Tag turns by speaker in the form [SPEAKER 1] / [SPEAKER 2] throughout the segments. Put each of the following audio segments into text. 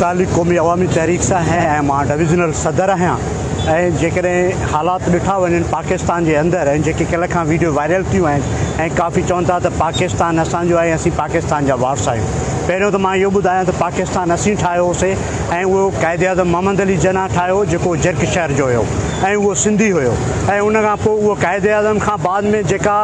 [SPEAKER 1] تعلق قومي عوامي تحريڪ سان آهي ۽ مان ڊويزنل صدر آهيان ۽ جيڪڏهن حالات ڏٺا وڃن پاڪستان جي اندر ۽ جيڪي ڪلهه کان ويڊيو وائرل ٿيون آهن ۽ ڪافي چون ٿا ته پاڪستان اسان جو آهي ۽ اسين پاڪستان جا وارث آهيون پهريون ته مان اهو ٻڌايان ته پاڪستان اسين ٺاهيو هو سي ۽ اهو قائد اعظم محمد علي جناح ٺاهيو هو جيڪو جرڪ شهر جو هيو ۽ اهو سنڌي هيو ۽ ان کان پوء اهو قائد اعظم کان بعد ۾ جيڪا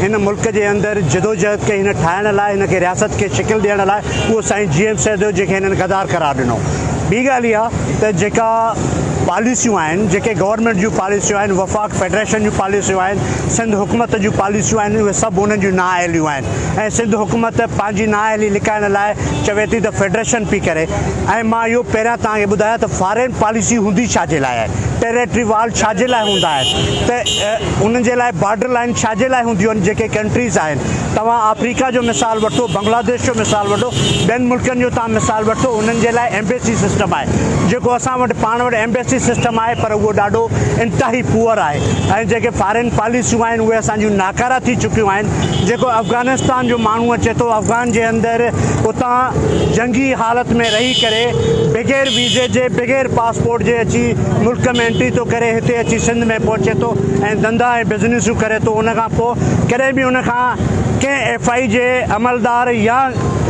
[SPEAKER 1] هن ملڪ جي اندر جدوجهد ڪئي هن ٺاهڻ لاء هن کي رياست کي شڪل ڏيڻ لاء اهو سائين جي ايم سيد هو جنهن کي هنن غدار قرار ڏنو ٻي ڳالهه اها ته جيڪا پاليسيون آهن جيڪي گورنمينٽ جون پاليسيون آهن وفاق فيڊريشن جون پاليسيون آهن سنڌ حڪومت جون پاليسيون آهن اهي سڀ انهن جون نااهليون آهن ۽ سنڌ حڪومت پنهنجي نااهلي لڪائڻ لاء چوي ٿي ته فيڊريشن پي ڪري ۽ مان اهو پهريان توهان کي ٻڌايان ته فارين پاليسي هوندي ڇا جي لاء آهي ٽيريٽري وال ڇا جي لاء هوندا آهن ته انهن جي لاء بارڊر لائن ڇا جي لاء هونديون آهن جيڪي ڪنٽريز آهن توهان آفريڪا جو مثال وٺو، بنگلاديش جو مثال وٺو، ٻين ملڪن جو توهان مثال وٺو، انهن جي لاء ايمبيسي سسٽم آهي، جيڪو اسان وٽ پاڻ وٽ ايمبيسي سسٽم آهي پر اهو ڏاڍو انتهائي پوئر آهي ۽ جيڪي فارين پاليسيون آهن اهي اسان جون ناڪارا ٿي چڪيون آهن، جيڪو افغانستان جو ماڻهو اچي ٿو افغان جي اندر اتان جنگي حالت ۾ رهي ڪري بغير ويزي جي بغير پاسپورٽ جي اچي ملڪ ۾ انٽري ٿو ڪري هتي اچي سنڌ ۾ پهچي ٿو ۽ ڌنڌا ۽ بزنيسون ڪري ٿو ان کان پوء ڪڏهن به ان کان ڪنهن ايف آء جي عملدار يا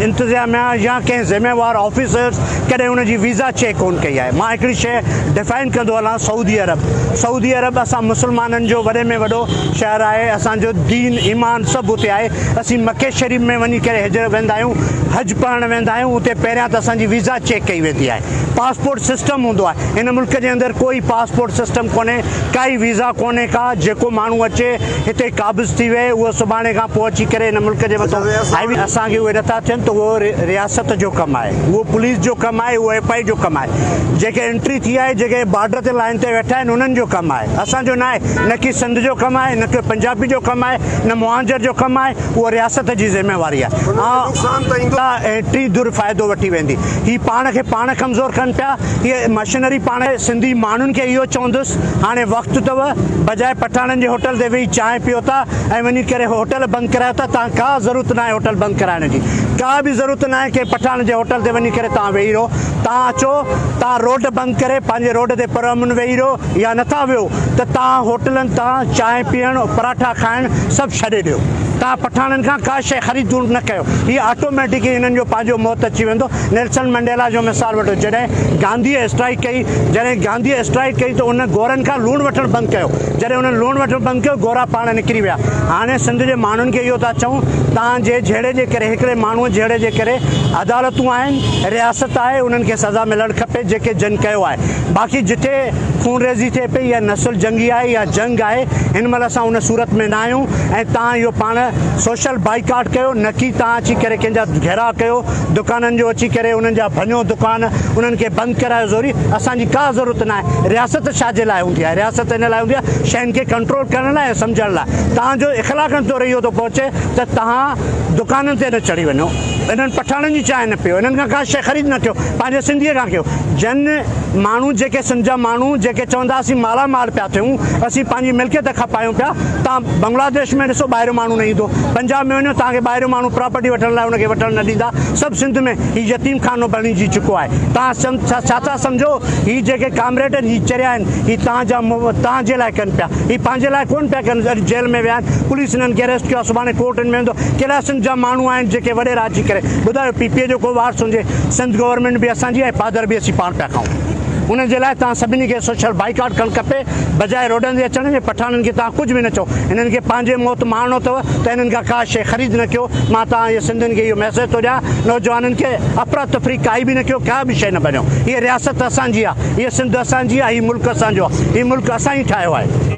[SPEAKER 1] انتظاميا يا ڪنهن ذميوار آفيسر ڪڏهن ان جي ويزا چيڪ ڪون ڪئي آهي مان هڪڙي شيء ڊفائن ڪندو هلان سعودي عرب سعودي عرب اسان مسلمانن جو وڏي ۾ وڏو شهر آهي اسان جو دين ايمان سڀ اتي آهي اسين مڪي شريف ۾ وڃي ڪري هجر ويندا آهيون حج پڙهڻ ويندا آهيون اتي پهريان ته اسان جي ويزا چيڪ ڪئي ويندي آهي پاسپورٽ سسٽم هوندو آهي ان ملڪ جي اندر ڪوئي پاسپورٽ سسٽم ڪونهي ڪائي ويزا ڪونهي ڪا جيڪو ماڻهو اچي هتي قابض ٿي ويهي اهو سڀاڻي کان پوء اچي ڪري هن ملڪ جي مٿان هائوي اسان کي اهي نٿا ٿين ته اهو رياست جو ڪم آهي اهو پوليس جو ڪم آهي اهو ايف آء اي جو ڪم آهي جيڪي انٽري ٿي آهي جيڪي بارڊر تي لائين تي ويٺا آهن انهن جو ڪم آهي اسان جو ناهي نه ڪي سنڌ جو ڪم آهي نه ڪي پنجابي جو ڪم آهي نه مهانجر جو ڪم آهي اهو رياست جي ذميواري آهي ٽي ڌر فائدو وٺي ويندي هي پاڻ کي پاڻ ڪمزور ڪن پيا هي مشينري پاڻ سنڌي ماڻهن کي اهو چوندس هاڻي وقت اٿو، بجاء پٺاڻن جي هوٽل تي ويهي چانهه پيو ٿا ۽ وڃي ڪري هوٽل بند ڪرايو ٿا، توهان ڪا ضرورت ناهي هوٽل بند ڪرائڻ جي، ڪا به ضرورت ناهي ڪنهن پٺاڻ جي هوٽل تي وڃي ڪري توهان ويهي رهو، توهان اچو توهان روڊ بند ڪري پنهنجي روڊ تي پرامن ويهي رهو يا نٿا ويهو ته توهان هوٽلن تان چانهه پيئڻ، پراٺا کائڻ سڀ ڇڏي ڏيو، توهان پٺاڻن کان ڪا شيء خريد نه ڪيو، هي آٽوميٽڪ ئي هنن جو پنهنجو موت اچي ويندو، نيلسن منڊيلا جو مثال وٺو جڏهن گانڌيء اسٽرائيڪ ڪئي جڏهن گانڌيء اسٽرائيڪ ڪئي ته ان گورن کان لوڻ وٺڻ بند ڪيو. جڏهن انهن لوڻ وٺڻ بند ڪيو، گورا پاڻ نڪري ويا. هاڻي سنڌ جي ماڻهن کي اهو ٿا چئون، توهان جي جهيڙي جي ڪري، هڪڙي ماڻهوء جهيڙي جي ڪري عدالتون آهن، رياست آهي، انهن کي سزا ملڻ کپي جيڪي جن ڪيو آهي. باقي جتي خونريزي ٿئي پئي يا نسل جنگي آهي يا جنگ آهي، هن مهل اسان ان صورت ۾ ناهيون ۽ توهان اهو پاڻ سوشل بائيڪاٽ ڪيو، نڪي توهان اچي ڪري ڪنهن جا گهيراء ڪيو. دڪانن جو اچي ڪري انهن جا ڀڃو دڪان انهن کي بند ڪرايو زوري اسان جي ڪا ضرورت ناهي رياست ڇا جي لاء هوندي آهي رياست ان لاء هوندي آهي شين کي ڪنٽرول ڪرڻ لاء ۽ سمجهڻ لاء توهان جو اخلاقن تور اهو ٿو پهچي ته توهان دڪانن تي نه چڙهي وڃو انهن پٺاڻن جي چانهه نه پيو انهن کان ڪا شيء خريد نه ڪيو پنهنجي سنڌي کان ڪيو جن ماڻهو جيڪي سنڌ جا ماڻهو جيڪي چوندا اسين مالا مال پيا ٿيون اسين پنهنجي ملڪيت کپايون پيا تان بنگلاديش ۾ ڏسو ٻاهريون ماڻهو نه ايندو پنجاب ۾ وڃو تان کي ٻاهريون ماڻهو پراپرٽي وٺڻ لاء ان کي وٺڻ نه ڏيندا سڀ سنڌ ۾ هي يتيم خانو بڻي جي چڪو آهي تان ڇا ٿا سمجهو هي جيڪي ڪامريڊ آهن هي چريا آهن هي تان جا تان جي لاء ڪن پيا هي پنهنجي لاء ڪون پيا ڪن اڄ جيل ۾ ويا آهن پوليس انهن کي اريسٽ ڪيو آهي سڀاڻي ڪورٽن ۾ ويندو ڪهڙا سنڌ جا ماڻهو آهن جيڪي وڏيرا اچي ڪري ٻڌايو پي پي جو ڪو وارث هجي سنڌ گورنمينٽ به اسان جي آهي پادر به اسين پاڻ پيا کائون ان جي لاء تان سڀني کي سوشل بائيڪاٽ ڪرڻ کپي بجاء روڊن تي اچڻ جي پٺاڻن کي توهان ڪجهه به نه چئو هنن کي پنهنجي موت ماڻڻو اٿو ته هنن کان ڪا شيء خريد نه ڪيو مان توهان جي سنڌين کي اهو ميسيج ٿو ڏيان نوجوانن کي افرا تفري ڪائي به نه ڪيو ڪا به شيء نه ڀڃو هيء رياست اسان جي آهي هيء سنڌ اسان جي آهي هيء ملڪ اسان جو آهي هيء ملڪ اسان ئي ٺاهيو آهي.